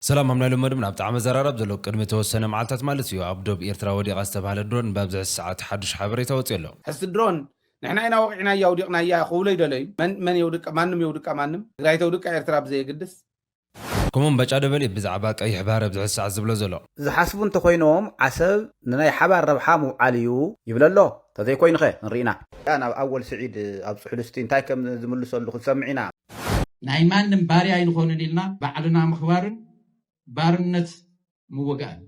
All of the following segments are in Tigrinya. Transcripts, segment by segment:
ሰላም ሃም ናይ ሎመድም ናብቲ ዓመት ዘራራብ ዘሎ ቅድሚ ተወሰነ መዓልታት ማለት እዩ ኣብ ዶብ ኢርትራ ወዲቓ ዝተባህለት ድሮን ብኣብዝሕዚ ሰዓት ሓዱሽ ሓበሬታ ወጺኡ ኣሎ። ሕዝቲ ድሮን ንሕና ኢና ወቂዕናያ ኣውዲቅናያ ክብሉ ኣይደለዩን መን መን የውድቃ ማንም የውድቃ ማንም ትግራይ ተውድቃ ኤርትራ ብዘየግድስ። ከምኡውን ባጫ ደበሌ እዩ ብዛዕባ ቀይሕ ባህሪ ኣብዝሕዚ ሰዓት ዝብሎ ዘሎ። ዝሓስቡ እንተኾይኖም ዓሰብ ንናይ ሓባር ረብሓ ምውዓል እዩ ይብል ኣሎ ተዘይኮይኑኸ ክንሪኢና። ናብ ኣወል ስዒድ ኣብጽሑሉ እስቲ እንታይ ከም ዝምልሰሉ ክንሰምዕ ኢና። ናይ ማንም ባርያ ኣይንኾንን ኢልና ባዕልና ምኽባርን ባርነት ምውጋእን እዩ።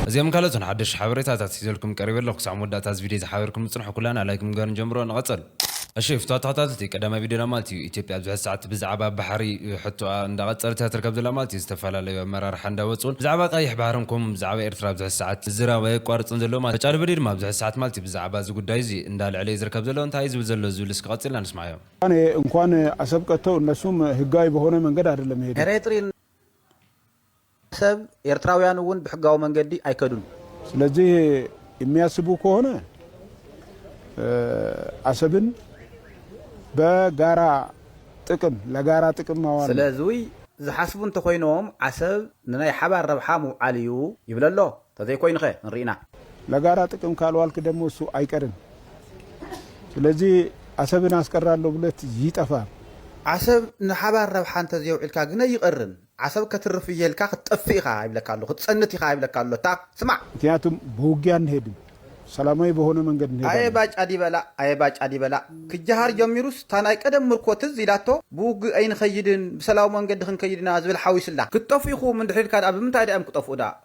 እዚኦምን ካልኦትን ሓደሽቲ ሓበሬታታት ሒዘልኩም ቀሪበ ኣለኹ ክሳዕ መወዳእታ እዚ ቪድዮ ዝሓበርኩም ንጽንሑ ኩላና ላይክ ብምግባር ንጀምሮ ንቐጸል። እሺ ፍትዋት ተኸታተልቲ ቀዳማይ ቪድዮና ማለት እዩ ኢትዮጵያ ኣብ ዝሕዚ ሰዓት ብዝዓባ ባሕሪ ሕቶኣ እንዳ ቐጸለት እያ ትርከብ ዘላ ማለት እዩ ዝተፋላለዩ ኣመራርሓ እንዳ ወጹን ብዝዓባ ቐይሕ ባሕርን ኮሙ ብዝዓባ ኤርትራ ኣብ ዝሕዚ ሰዓት ዝራብ ኣየቋርጽን ዘሎ ማለት እዩ ተጫሉበዲ ድማ ኣብ ዝሕዚ ሰዓት ማለት እዩ ብዝዓባ እዚ ጉዳይ እዚ እንዳ ኣልዐለ እዩ ዝርከብ ዘሎ እንታይ እዩ ዝብል ዘሎ ዝብል እስኪ ቐጺልና ንስማዓዮ። እኔ እንኳን አሰብ ቀርቶ እነሱም ህጋዊ በሆነ መንገድ አይደለም የሄዱት። ኤሬትሪን አሰብ ኤርትራውያን እውን ብሕጋዊ መንገዲ ኣይከዱን። ስለዚህ የሚያስቡ ከሆነ አሰብን በጋራ ጥቅም ለጋራ ጥቅም ማዋል ነው። ስለዙይ ዝሓስቡ እንተኾይኖም ዓሰብ ንናይ ሓባር ረብሓ ምውዓል እዩ ይብል ኣሎ። ተዘይኮይኑኸ ንሪኢና። ለጋራ ጥቅም ካልዋል ክደመሱ ኣይቀርን ስለዚ ኣሰብን ኣስቀራሎ ብለት ይጠፋ። ዓሰብ ንሓባር ረብሓ እንተዘየውዒልካ ግነ ኣይቀርን። ዓሰብ ከትርፍ እየ ኢልካ ክትጠፍእ ኢኻ ይብለካ ኣሎ ክትጸንት ኢኻ ይብለካ ኣሎ እታ ስማዕ። ምክንያቱም በውጊያ እንሄድም ሰላማዊ በሆነ መንገድ እንሄዳለን። ኣየ ባጫ ዲበላ ኣየ ባጫ ዲበላ ክጃሃር ጀሚሩስ እታ ናይ ቀደም ምርኮ ትዝ ኢላቶ ብውግእ ኣይንኸይድን ብሰላዊ መንገዲ ክንከይድ ኢና ዝብል ሓዊስላ። ክትጠፍኡ ኢኹም እንድሕር ኢልካ ድኣ ብምንታይ ድኣ እዮም ክጠፍኡ ድኣ።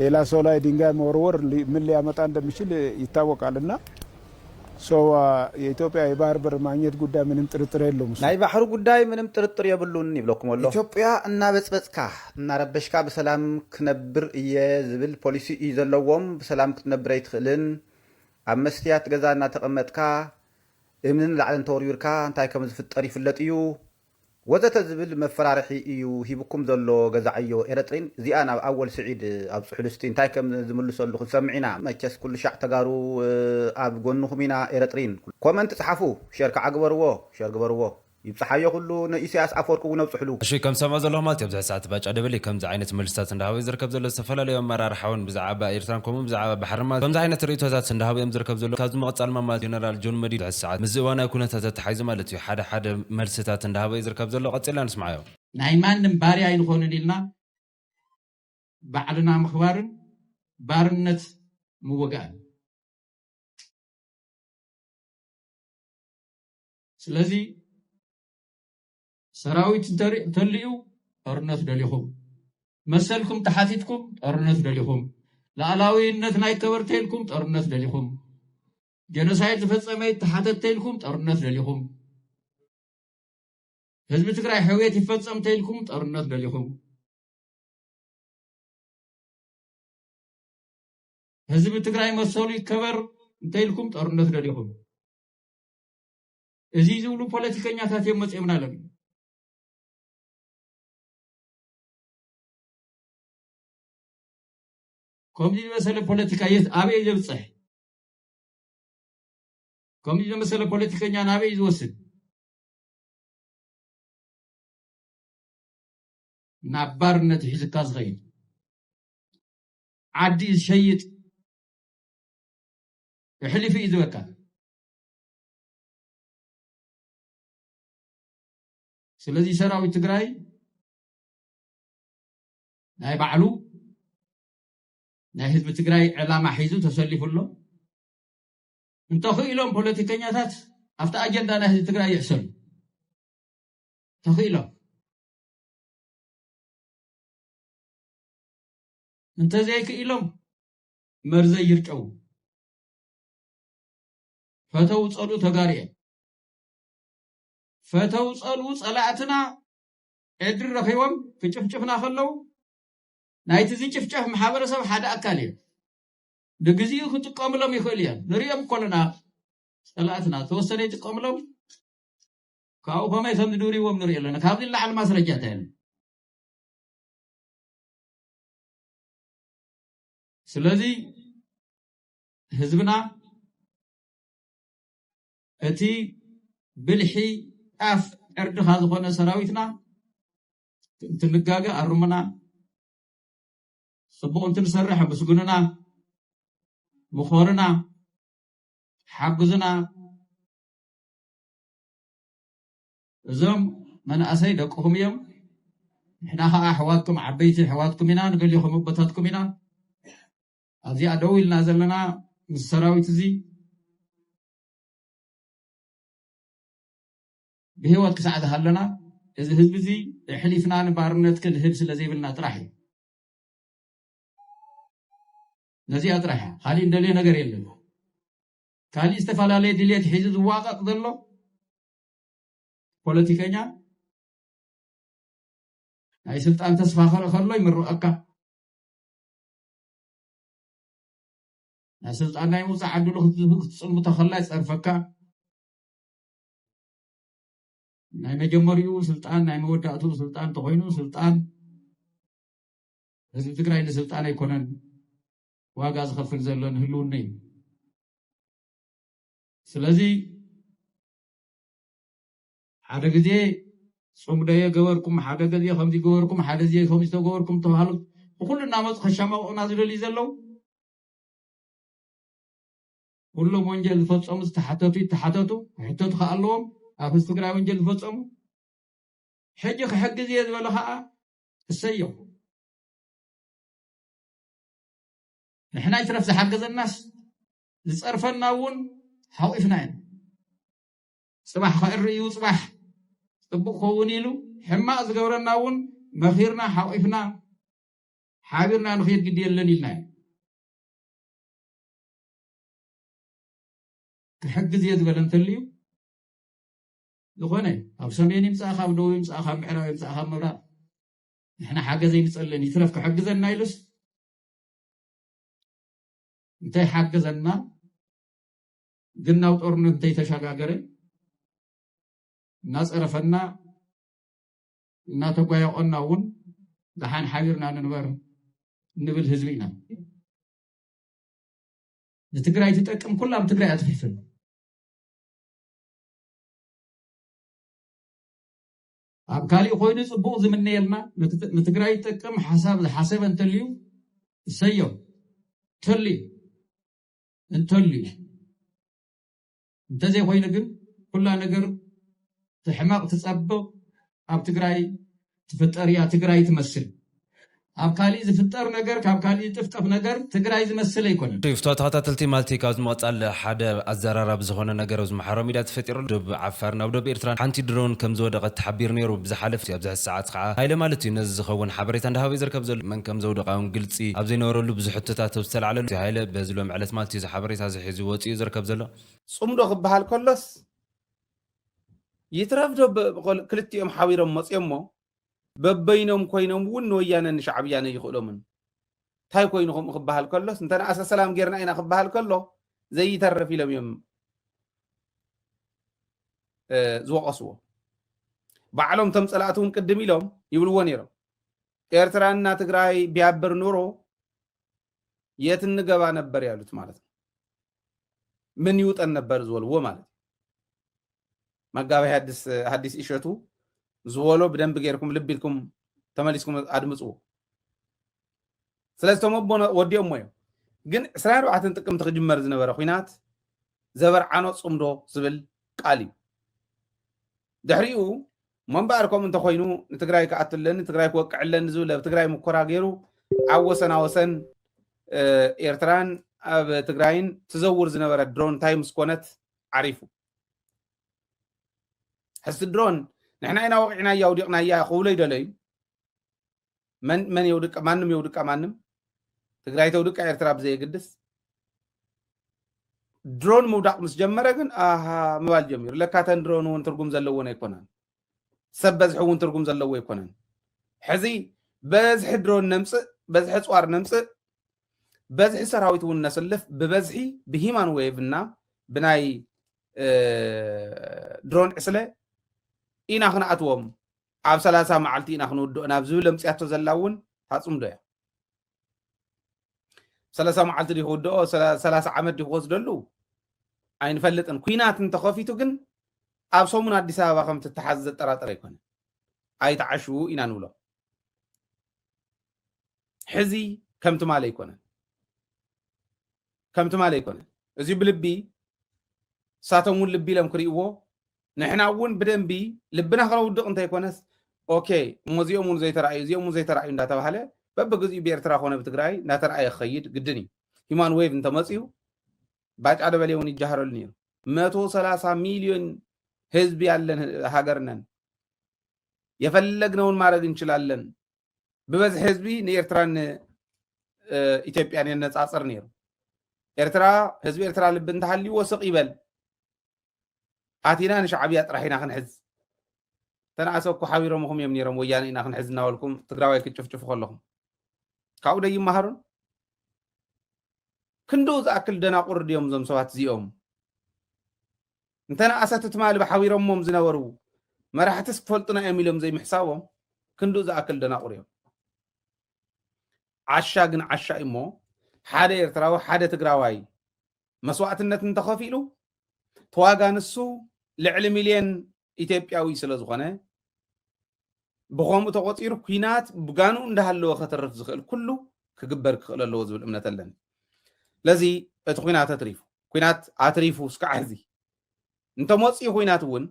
ሌላ ሰው ላይ ድንጋይ መወርወር ምን ሊያመጣ እንደሚችል ይታወቃል እና ሰው የኢትዮጵያ የባህር በር ማግኘት ጉዳይ ምንም ጥርጥር የለውም እሱ። ናይ ባሕሪ ጉዳይ ምንም ጥርጥር የብሉን ይብለኩም ኣሎ። ኢትዮጵያ እናበጽበጽካ እናረበሽካ ብሰላም ክነብር እየ ዝብል ፖሊሲ እዩ ዘለዎም ብሰላም ክትነብር ኣይትኽእልን ኣብ መስትያት ገዛ እናተቐመጥካ እምንን ላዕልን ተወርዊርካ እንታይ ከምዝፍጠር ይፍለጥ እዩ ወዘተ ዝብል መፈራርሒ ኢዩ ሂብኩም ዘሎ ገዛዕዮ ኤረጥሪን እዚኣ ናብ ኣወል ስዒድ ኣብጽሑሉ እስቲ እንታይ ከም ዝምልሰሉ ክንሰምዕ ኢና መቸስ ኩሉሻዕ ተጋሩ ኣብ ጎንኩም ኢና ኤረጥሪን ኮመንት ጽሓፉ ሸር ካዓ ግበርዎ ሸር ግበርዎ ይብጽሓዮ ኩሉ ንኢሰያስ ኣፎርቂ ውን ኣብጽሑሉ። እሺ ከም ዝሰምዖ ዘለኹ ማለት ኣብዚ ሕዚ ሰዓት ባጫ ደበሌ ከምዚ ዓይነት መልስታት እንዳሃበ እዩ ዝርከብ ዘሎ ዝተፈላለዩ ኣመራርሓ ውን ብዛዓባ ኤርትራን ከምኡ ውን ብዛዓባ ባሕርን ማለት ከምዚ ዓይነት ርእይቶታት እንዳሃቡ እዮም ዝርከብ ዘለዉ ካብዚ ምቕጻል ድማ ማለት ጀነራል ጆን መዲድ ኣብዚ ሰዓት ምስዚ እዋናዊ ኩነታት ኣተሓሒዙ ማለት እዩ ሓደ ሓደ መልስታት እንዳሃበ እዩ ዝርከብ ዘሎ ቀጺልና ንስምዓዮ። ናይ ማንም ባርያ ኣይንኾንን ኢልና ባዕልና ምኽባርን ባርነት ምውጋእን። ስለዚ ሰራዊት እንተልዩ ጦርነት ደሊኹም፣ መሰልኩም ተሓቲትኩም ጦርነት ደሊኹም፣ ላኣላዊይነትና ይከበር ተይልኩም ጦርነት ደሊኹም፣ ጀኖሳይድ ዝፈፀመ ይተሓተት ተይልኩም ጦርነት ደሊኹም ህዝቢ ትግራይ ሕውየት ይፈፀም ተይልኩም ጦርነት ደሊኹም ህዝቢ ትግራይ መሰሉ ይከበር እንተይልኩም ጦርነት ደሊኹም እዚ ዝብሉ ፖለቲከኛታት እዮም መፅኦምና ኣለዉ ከምዚ ዝበሰለ ፖለቲካ የት ኣበይ ዘብፅሕ ከምዚ ዘመሰለ ፖለቲከኛ ናበይ እዩ ዝወስድ? ናብ ባርነት እዩ ሒዝካ ዝኸይድ። ዓዲ ዝሸይጥ እሕሊፉ እዩ ዝበካ። ስለዚ ሰራዊት ትግራይ ናይ ባዕሉ ናይ ህዝቢ ትግራይ ዕላማ ሒዙ ተሰሊፉ ኣሎ። እንተኽኢሎም ፖለቲከኛታት ኣብቲ ኣጀንዳ ናይ ህዝቢ ትግራይ ይሕሰሉ ተኽኢሎም እንተዘይክኢሎም መርዘይ ይርጨው ፈተው ፀሉ ተጋሩ እዮም ፈተው ፀሉ ፀላእትና ዕድሪ ረኺቦም ክጭፍጭፍና ከለው ናይቲ ዝጭፍጨፍ ማሕበረሰብ ሓደ ኣካል እዮም። ንግዚኡ ክጥቀምሎም ይኽእሉ እዮም። ንርእዮም እኮ ኣለና ጸላእትና ተወሰነ ይጥቀምሎም ካብኡ ከመይ ከም ዝድርዎም ንሪኦ ኣለና። ካብዚ ንላዕሊ ማስረጃ እንታይ ኣሎ? ስለዚ ህዝብና እቲ ብልሒ ጣፍ ዕርድኻ ዝኾነ ሰራዊትና እንትንጋገ ኣርሙና፣ ጽቡቕ እንትንሰርሕ ኣመስግኑና፣ ምኸሩና፣ ሓግዙና። እዞም መናእሰይ ደቅኹም እዮም፣ ንሕና ከዓ ኣሕዋትኩም ዓበይቲ ኣሕዋትኩም ኢና፣ ንገሊኹም ኣቦታትኩም ኢና። ኣብዚኣ ደው ኢልና ዘለና ምስ ሰራዊት እዚ ብህይወት ክሳዕ ዝሃለና እዚ ህዝቢ እዚ እሕሊፍና ንባርነት ክንህብ ስለ ዘይብልና ጥራሕ እዩ። ነዚኣ ጥራሕ እያ ካሊእ እንደልዮ ነገር የለን። ካሊእ ዝተፈላለየ ድሌት ሒዙ ዝዋቀጥ ዘሎ ፖለቲከኛ ናይ ስልጣን ተስፋ ክርኢ ከሎ ይምርቐካ ናይ ስልጣን ናይ ምውፃእ ዓድሉ ክትፅልምቶ ከላ ይፀርፈካ ናይ መጀመሪኡ ስልጣን ናይ መወዳእትኡ ስልጣን ተኮይኑ ስልጣን ህዝቢ ትግራይ ንስልጣን ኣይኮነን ዋጋ ዝኸፍል ዘሎ ንህልውነ እዩ ስለዚ ሓደ ግዜ ፅምደዮ ገበርኩም ሓደ ግዜ ከምዚ ገበርኩም ሓደ ግዜ ከምዚ ተገበርኩም ተባሃሉ ብኩሉ እናመፁ ከሻማቕቑና ዝደልዩ ዘለው ኩሎም ወንጀል ዝፈፀሙ ዝተሓተቱ ይተሓተቱ ክሕተቱ ከዓ ኣለዎም ኣብ ህዝቢ ትግራይ ወንጀል ዝፈፀሙ ሕጂ ክሕግዝ እየ ዝበለ ከዓ እሰየው ንሕና ይትረፍ ዝሓገዘናስ ዝፀርፈና እውን ሓቂፍና ኢና ፅባሕ ከእሪ እዩ ፅባሕ ፅቡቅ ከውን ኢሉ ሕማቅ ዝገብረና እውን መኺርና ሓቂፍና ሓቢርና ንኽድ ግዲ የለን ኢልና እዩ ክሕግዝ እየ ዝበለ እንተልዩ ዝኾነ ካብ ሰሜን ይምፃእ ካብ ደቡብ ይምፃእ ካብ ምዕራብ ይምፃእ ካብ ምብራቕ ንሕና ሓገዝ ኣይንፀልን ይትረፍ ክሕግዘና ኢሉስ እንታይ ሓገዘና ግን ናብ ጦርነት እንተይተሸጋገረ እናፀረፈና እናተጓየቆና እውን ደሓን ሓቢርና ንንበር ንብል ህዝቢ ኢና ንትግራይ ትጠቅም ኩላ ኣብ ትግራይ ኣትፊፍን ኣብ ካሊእ ኮይኑ ፅቡቕ ዝምነየልና ንትግራይ ይጠቅም ሓሳብ ዝሓሰበ እንተልዩ እሰዮ እንተልዩ እንተልዩ እንተዘይኮይኑ ግን ኩላ ነገር ትሕመቅ ትጸብቅ ኣብ ትግራይ ትፍጠር እያ ትግራይ ትመስል ኣብ ካሊእ ዝፍጠር ነገር ካብ ካሊእ ዝጥፍጠፍ ነገር ትግራይ ዝመስል ኣይኮነን። ክፍቶ ተኸታተልቲ ማልቲ ካብዚ ምቕጻል ሓደ ኣዘራራቢ ዝኾነ ነገር ኣብዚ ማሕበራዊ ሚድያ ተፈጢሩ ኣሎ። ዶብ ዓፋርን ኣብ ዶብ ኤርትራን ሓንቲ ድሮን ከምዝወደቐት ተሓቢሩ ነይሩ ብዝሓለፈ ኣብዚ ሕዚ ሰዓት ከኣ ሃይለ ማለት እዩ ነዚ ዝኸውን ሓበሬታ እንዳሃበ እዩ ዝርከብ ዘሎ። መን ከምዘውደቓ ውን ግልጺ ኣብዘይነበረሉ ብዙሕ ሕቶታት ኣብ ዝተላዕለሉ እቲ ሃይለ በዚ ሎሚ ዕለት ማለት እዩ እዚ ሓበሬታ እዚ ሕዚ ወፂኡ ዝርከብ ዘሎ። ፅምዶ ክበሃል ከሎስ ይትረፍ ዶ ክልቲኦም ሓቢሮም መፅዮሞ በበይኖም ኮይኖም እውን ንወያነን ንሻዕብያን ኣይኽእሎምን እንታይ ኮይኑ ከምኡ ክበሃል ከሎስ እንተነኣሰ ሰላም ጌርና ኢና ክበሃል ከሎ ዘይተርፍ ኢሎም እዮም ዝወቐስዎ ባዕሎም ቶም ፀላእቲ እውን ቅድም ኢሎም ይብልዎ ነይሮም ኤርትራና ትግራይ ቢያብር ኑሮ የት እንገባ ነበር ያሉት ማለት ነው። ምን ይውጠን ነበር ዝወልዎ ማለት እዩ። መጋቢ ሐዲስ እሸቱ ዝወሎ ብደንብ ጌርኩም ልብ ኢልኩም ተመሊስኩም ኣድምፅዎ። ስለዚ እቶም ኣቦ ወዲኦሞ እዮም። ግን 24 ጥቅምቲ ክጅመር ዝነበረ ኩናት ዘበርዓኖ ፅምዶ ዝብል ቃል እዩ። ድሕሪኡ ሞምበኣር ከምኡ እንተኾይኑ ንትግራይ ክኣቱ ኣለኒ ትግራይ ክወቅዕ ኣለኒ ዝብል ኣብ ትግራይ ሙኮራ ገይሩ ኣብ ወሰና ወሰን ኤርትራን ኣብ ትግራይን ትዘውር ዝነበረ ድሮን እንታይ ምስ ኮነት ዓሪፉ ሕዚ ድሮን ንሕና ኢና ወቂዕናያ ውዲቕናያ ክብሎ ይደለዩ መን መን የውድቃ ማንም የውድቃ ማንም ትግራይ ተውድቃ ኤርትራ ብዘየግድስ ድሮን ምውዳቅ ምስ ጀመረ ግን ኣሃ ምባል ጀሚሩ ለካተን ድሮን እውን ትርጉም ዘለዎን ኣይኮነን ሰብ በዝሒ እውን ትርጉም ዘለዎ ኣይኮነን ሕዚ በዝሒ ድሮን ነምፅእ በዝሒ ፅዋር ነምፅእ በዝሒ ሰራዊት እውን ነስልፍ ብበዝሒ ብሂማን ዌቭ እና ብናይ ድሮን ዕስለ ኢና ክንኣትዎም ኣብ ሰላሳ መዓልቲ ኢና ክንውድኦ ናብ ዝብል ኣምፅያቶ ዘላ እውን ታፅምዶ እያ ሰላሳ መዓልቲ ዲ ክውድኦ ሰላሳ ዓመት ዲ ክወስደሉ ኣይንፈልጥን ኩናት እንተኸፊቱ ግን ኣብ ሰሙን ኣዲስ ኣበባ ከም ትተሓዝ ዘጠራጥር ኣይኮነ ኣይተዓሽዉ ኢና ንብሎ ሕዚ ከም ትማል ኣይኮነን ከም ትማሊ ኣይኮነን እዚ ብልቢ ንሳቶም እውን ልቢ ኢሎም ክርእይዎ ንሕና እውን ብደንቢ ልብና ክነውድቕ እንተይኮነስ ኦኬ እሞ እዚኦም እውን ዘይተረኣዩ እዚኦም እውን ዘይተረኣዩ እንዳተባሃለ በብግዚኡ ብኤርትራ ኮነ ብትግራይ እናተረኣየ ክኸይድ ግድን እዩ ሂማን ዌቭ እንተመፅኡ ባጫ ደበሌ እውን ይጃሃረሉ ነይሩ መቶ ሰላሳ ሚሊዮን ህዝቢ ያለን ሀገር ነን የፈለግነውን ማድረግ እንችላለን ብበዝሒ ህዝቢ ንኤርትራን ኢትዮጵያን የነፃፅር ነይሩ ኤርትራ ህዝቢ ኤርትራ ልቢ እንተሃልይዎ ስቕ ይበል ኣቲና ንሻዕብያ ጥራሕ ኢና ክንሕዝ ተነኣሰ እኮ ሓቢሮምኹም እዮም ነይሮም ወያነ ኢና ክንሕዝ እናበልኩም ትግራዋይ ክትጭፍጭፉ ከለኹም ካብኡ ደይመሃሩን ክንድኡ ዝኣክል ደናቑር ድዮም እዞም ሰባት እዚኦም እንተ ነኣሰ እቲ ትማሊ ብሓቢሮሞም ዝነበሩ መራሕትስ ክፈልጡና እዮም ኢሎም ዘይምሕሳቦም ክንድኡ ዝኣክል ደናቑር እዮም። ዓሻ ግን ዓሻ እዩ እሞ ሓደ ኤርትራዊ ሓደ ትግራዋይ መስዋእትነት እንተኸፊሉ ተዋጋ ንሱ ልዕሊ ሚልዮን ኢትዮጵያዊ ስለ ዝኾነ ብኸምኡ ተቖፂሩ ኩናት ብጋንኡ እንዳሃለወ ከትርፍ ዝኽእል ኩሉ ክግበር ክኽእል ኣለዎ ዝብል እምነት ኣለኒ ለዚ እቲ ኩናት ኣትሪፉ ኩናት ኣትሪፉ እስካዕ ሕዚ እንተመፅኡ ኩናት እውን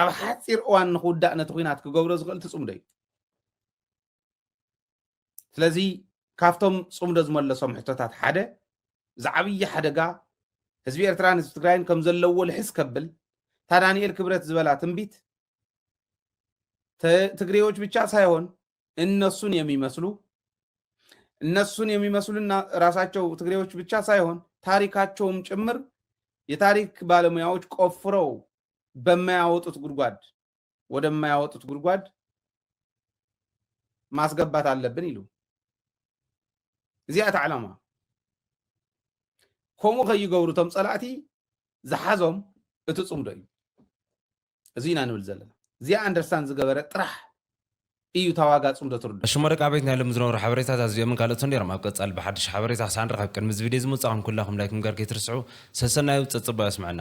ኣብ ሓፂር እዋን ንክውዳእ ነቲ ኩናት ክገብሮ ዝኽእል ትፅምዶ እዩ ስለዚ ካብቶም ፅምዶ ዝመለሶም ሕቶታት ሓደ እዚ ዓብዪ ሓደጋ ህዝቢ ኤርትራን ህዝቢ ትግራይን ከም ዘለዎ ልሕስ ከብል እታ ዳንኤል ክብረት ዝበላ ትንቢት ትግሬዎች ብቻ ሳይሆን እነሱን የሚመስሉ እነሱን የሚመስሉና ራሳቸው ትግሬዎች ብቻ ሳይሆን ታሪካቸውም ጭምር የታሪክ ባለሙያዎች ቆፍረው በማያወጡት ጉድጓድ ወደማያወጡት ጉድጓድ ማስገባት ኣለብን ኢሉ እዚኣ እታ ዕላማ ከምኡ ከይገብሩ እቶም ፀላእቲ ዝሓዞም እቲ ፅምዶ እዩ እዚ ኢና ንብል ዘለና እዚኣ ኣንደርስታን ዝገበረ ጥራሕ እዩ ታዋጋ ፅምዶ ትርዱ ሽሞ ደቂ ኣበይት ናይ ሎም ዝነበሩ ሓበሬታት ኣዚኦምን ካልኦትን ነይሮም ኣብ ቀጻሊ ብሓድሽ ሓበሬታ ክሳዕ ንራኸብ ቅድሚ እዚ ቪድዮ እዚ ምውጻእኩም ኩላኹም ላይክ ምግባር ከይትርስዑ ሰሰናዩ ጸጽብቕ የስምዐና።